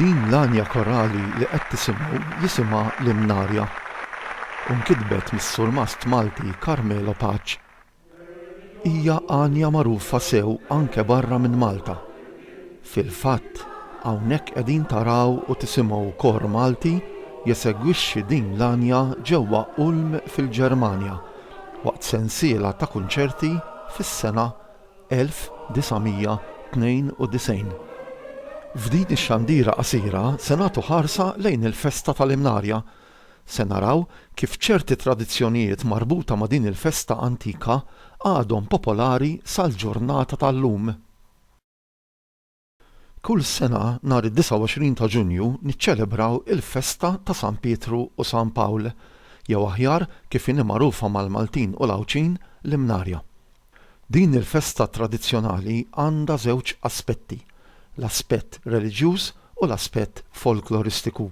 Din l-għanja korali li qed tisimgħu jisimha Limnarja u nkitbet mis-surmast Malti Carmelo Paċ. Hija għanja magħrufa sew anke barra minn Malta. Fil-fatt, hawnhekk qegħdin taraw u tisimgħu kor Malti jesegwixxi din l-għanja ġewwa Ulm fil-Ġermanja. waqt sensiela ta' kunċerti fis-sena 1992. F'din ix-xandira qasira se nagħtu ħarsa lejn il-festa tal-Imnarja. Se naraw kif ċerti tradizzjonijiet marbuta ma' din il-festa antika għadhom popolari sal-ġurnata tal-lum. Kull sena nhar id-29 ta' Ġunju niċċelebraw il-festa ta' San Pietru u San Pawl, jew aħjar kif inhi magħrufa mal-Maltin u l-Għawdxin, l-Imnarja. Din il-festa tradizzjonali għandha żewġ aspetti, l-aspett reliġjuż u l-aspett folkloristiku.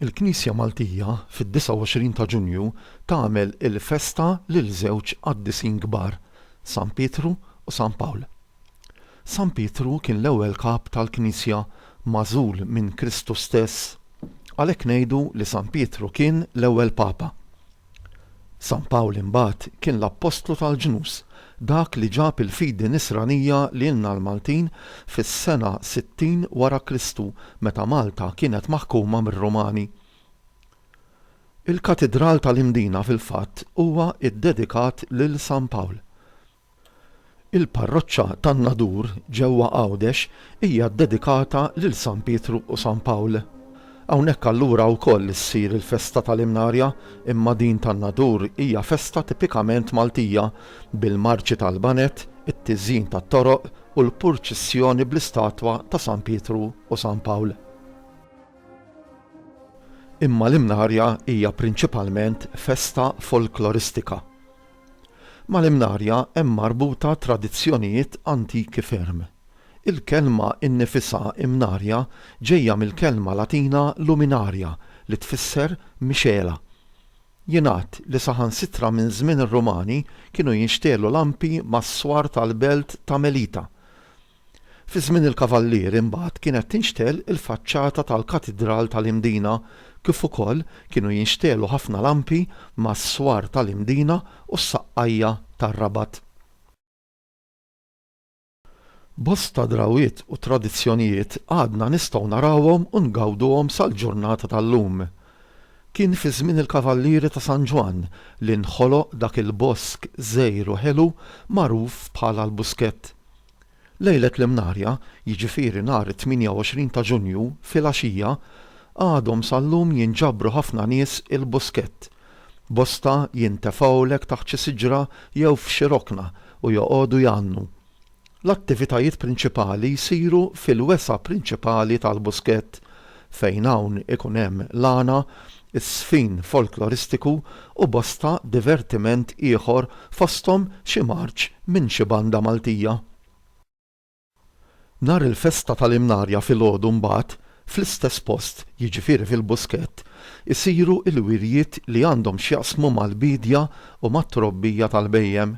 Il-Knisja Maltija fid-29 ta' Ġunju tagħmel il-festa lil żewġ qaddisin kbar, San Pietru u San Pawl. San Pietru kien l-ewwel Kap tal-Knisja magħżul minn Kristu stess, għalhekk ngħidu li San Pietru kien l-ewwel Papa. San Pawl imbagħad kien l-appostlu tal-ġnus, dak li ġab il-fidi nisranija lilna l-Maltin fis-sena 60 wara Kristu meta Malta kienet maħkuma mir-Rumani. Il-Katidral tal-Imdina fil-fatt huwa ddedikat lil San Pawl. Il-parroċċa tan-Nadur ġewwa Għawdex hija ddedikata lil San Pietru u San Pawl. Hawnhekk allura wkoll issir il-festa tal-Imnarja imma din tan-Nadur hija festa tipikament Maltija bil-marċi tal-baned, it-tiżjin tat-toroq u l-purċissjoni bl-istatwa ta' San Pietru u San Pawl. Imma l-Imnarja hija prinċipalment festa folkloristika. Mal-Imnarja hemm marbuta tradizzjonijiet antiki ferm. Il-kelma innifisha Imnarja ġejja mill-kelma Latina luminaria li tfisser mixgħela. Jingħad li saħansitra minn żmien ir-Rumani kienu jinxtegħlu lampi mas-swar tal-belt ta' Melita. Fi żmien il-Kavallieri mbagħad kienet tinxtegħel il-faċċata tal-Katidral tal-Imdina kif ukoll kienu jinxtegħlu ħafna lampi mas-swar tal-Imdina u s-saqqajja tar-Rabat. Bosta drawwiet u tradizzjonijiet għadna nistgħu narawhom u ngawduhom sal-ġurnata tal-lum. Kien fi żmien il-Kavallieri ta' San Ġwann li nħoloq dak il-bosk żgħir u ħelu magħruf bħala l-Buskett. Lejlet l-Imnarja, jiġifieri nhar it-28 ta' Ġunju filgħaxija, għadhom sal-lum jinġabru ħafna nies il-Buskett. Bosta jintefgħulek taħt xi siġra jew f'xi rokna u joqogħdu jgħannu. L-attivitajiet prinċipali jsiru fil-wesgħa prinċipali tal-Buskett fejn hawn ikun hemm l-għana, iż-żfin folkloristiku u bosta divertiment ieħor fosthom xi marċ minn xi banda Maltija. Nhar il-festa tal-Imnarja filgħodu mbagħad, fl-istess post, jiġifieri fil-Buskett, isiru l-wirjiet li għandhom x'jaqsmu mal-biedja u mat-trobbija tal-bhejjem.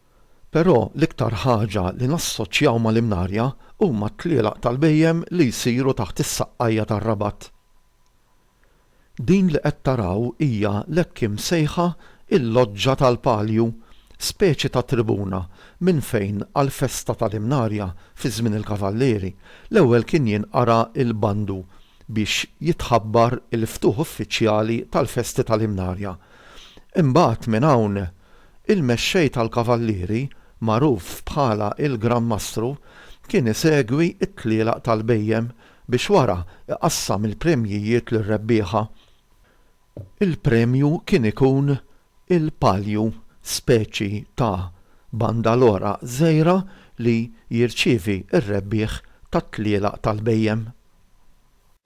Però l-iktar ħaġa li nassoċjaw mal-Imnarja huma t-tlielaq tal-bhejjem li jsiru taħt is-saqqajja tar-Rabat. Din li qed taraw hija l-hekk imsejħa il-Loġġa tal-Palju, speċi ta' tribuna minn fejn għall-festa tal-Imnarja fi żmien il-Kavallieri l-ewwel kien jinqara' l-bandu biex jitħabbar il-ftuħ uffiċjali tal-festi tal-Imnarja. Imbagħad minn hawn Il-mexxej tal-kavallieri, magħruf bħala il-Gran Mastru, kien isegwi t-tlielaq tal-bhejjem biex wara iqassam il-premjijiet lir-rebbieħa. Il-premju kien ikun il-palju, speċi ta' bandalora żgħira li jirċievi r-rebbieħ tat-tlielaq tal-bhejjem.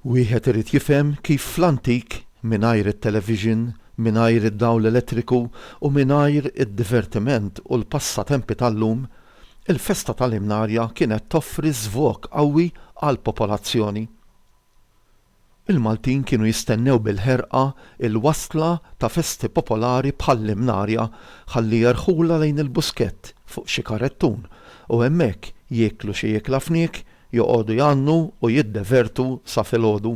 Wieħed irid jifhem kif fl-antik, mingħajr it-television, mingħajr id-dawl elettriku u mingħajr id-divertiment u l-passatempi tal-lum, il-festa tal-Imnarja kienet toffri żvog qawwi għall-popolazzjoni. Il-Maltin kienu jistennew bil-ħerqa l-wasla ta' festi popolari bħall-Imnarja ħalli jerħulha lejn il-Buskett fuq xi karettun u hemmhekk jieklu xi iekla fniek Joqogħdu jgħannu u jiddevertu sa filgħodu.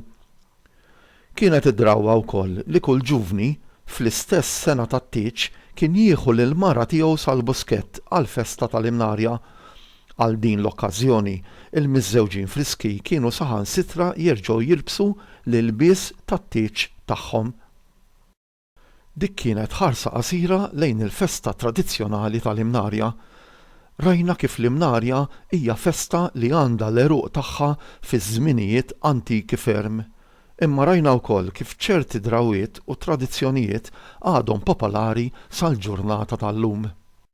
Kienet id-drawwa wkoll li kull ġuvni fl-istess sengħa tat-tieġ kien jieħu lill-mara tiegħu sal-Buskett għall-festa tal-Imnarja. Għal din l-okkażjoni, il-miżżewġin Friski kienu saħansitra jerġgħu jilbsu l-ilbies tat-tieġ tagħhom. Dik kienet ħarsa qasira lejn il-festa tradizzjonali tal-Imnarja. Rajna kif l-Imnarja hija festa li għandha l-għeruq tagħha fi żminijiet antiki ferm. Imma rajna wkoll kif ċerti drawwiet u tradizzjonijiet għadhom popolari sal-ġurnata tal-lum.